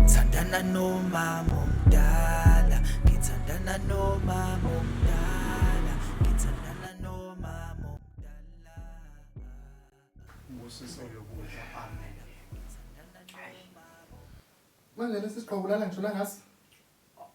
Thandana nomama omdala, ngithandana nomama omdala, ngithandana nomama omdala. Ubusiso lokudla amen. Manje lesi siqobo ulala ngisho nangasi.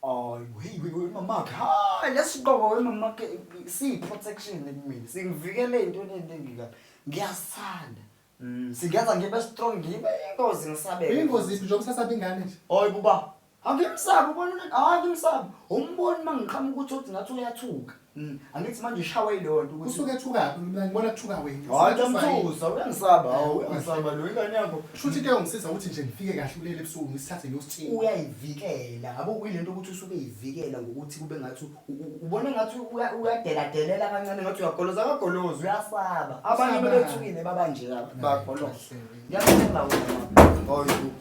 Ay, hey, we- we- mamakhe hayi lesiqoko wemamakhe siyi-protection kumina singivikele ey'ntweni ey'ningi kabi ngiyasithanda Mm, singenza ngibe strong ngibe ingozi ngisabeke Uyingozi iphi njengoba usasaba ingane nje? hayi kuba angimsabi ubona hayi angimsabi umboni uma ngiqhamuka uthi othi ngathi uyathuka Mm. Angithi manje ushawa ilonto ukuthi usuke ethukaphi mina ngibona kuthuka wena. Hayi ntomthusa uyangisaba hawu eh, uyangisaba lo ingane yakho. Shuthi ke ungisiza ukuthi nje ngifike kahle kulele ebusuku ngisithathe ngiyosithinga. Uyayivikela ngabo kuyilento ukuthi usuke ivikela ngokuthi kube ngathi ubona ngathi uyadeladelela kancane ngathi uyagoloza akagolozi uyasaba. Abanye bebethukile baba nje bagoloza. Ngiyakuthenga wena. Hayi.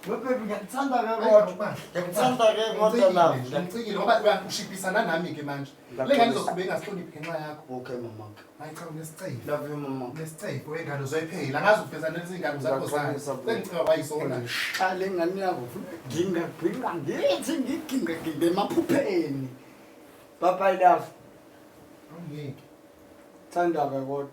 Webaby ngiyakuthanda ke kodwa. Ngiyakuthanda ke kodwa love. Ngicikile ngoba uyangishiphisana nami ke manje. Le ngane izoqhubeka ingahloniphi ngenxa yakho. Okay mama. Hayi cha unesicelo. Love you mama. Unesicelo wengane uzoyiphela. Angazi ufeza lezi ngane zakho zani. Sengicela wayisona. Cha le ngane yakho ginga ginga ngithi ngiginga ginga emaphupheni. Bye bye love. Angeke. Thanda ke kodwa.